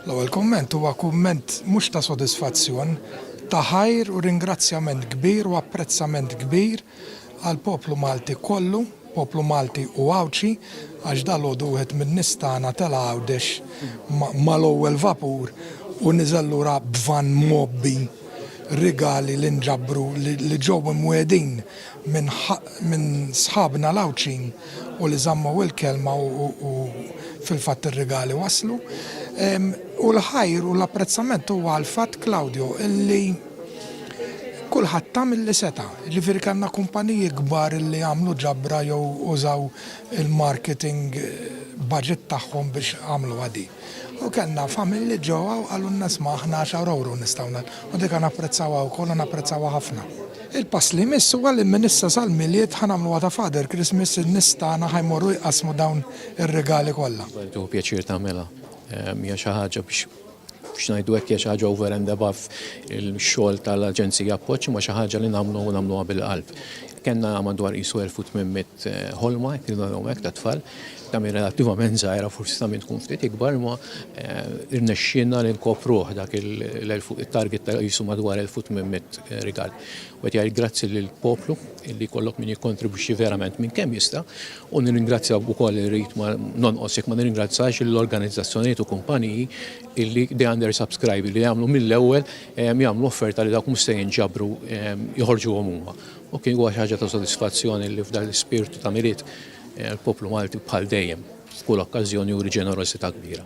L-ewwel kumment huwa kumment mhux ta' sodisfazzjon, ta' ħajr u ringrazzjament kbir u apprezzament kbir għall-poplu Malti kollu, poplu Malti u Għawdxi, għax dalgħodu wieħed min-nies tagħna tela' Għawdex mal-ewwel vapur u niżel lura b'vann mgħobbi rigali li nġabru li ġew imwiegħdin minn sħabna l-Għawdxin u li żammu il-kelma u fil-fatt ir-rigali waslu. U l-ħajr u l-apprezzament huwa għall-fatt Claudio illi kulħadd ta' milli seta'. Ġifieri kellna kumpaniji kbar illi għamlu ġabra jew użaw il-marketing budget tagħhom biex għamluha din. U kellna familji ġewwa u qalulna isma' aħna għaxar ewro nistgħu nagħtu u dik napprezzawha wkoll u napprezzawha ħafna. Il-pass li jmiss huwa li minn issa sal-Milied ħa nagħmluha ta' Father Christmas, in-nies tagħna ħa jmorru jqassmu dawn ir-rigali kollha. Jieħu pjaċir tagħmilha. Hija xi ħaġa biex biex ngħidu hekk hija xi ħaġa over and above il-xogħol tal-Aġenzija Appoġġ imma xi ħaġa li nagħmlu u nagħmluha bil-qalb. Kellna madwar qisu 1800 ħolma, jekk nagħmlu hekk, tat-tfal. Ta' min relattivament żgħira forsi ta' min tkun ftit ikbar imma rnexxielna li nkopruh dak il-target ta' qisu madwar 1800 rigal. U qed jgħid grazzi lill-poplu li jkollok min jikkontribwixxi verament minn kemm jista' u nirringrazzja wkoll irrid ma nonqos jekk ma nirringrazzax lill-organizzazzjonijiet u kumpaniji li they undersubscribe li jagħmlu mill-ewwel jagħmlu offerta li dawk mhux se jinġabru joħorġuhom huma. U kien huwa xi ħaġa ta' sodisfazzjon li f'dan l-ispirtu ta' Milied Il-poplu Malti bħal dejjem f'kull okkażjoni juri ġenerożità kbira.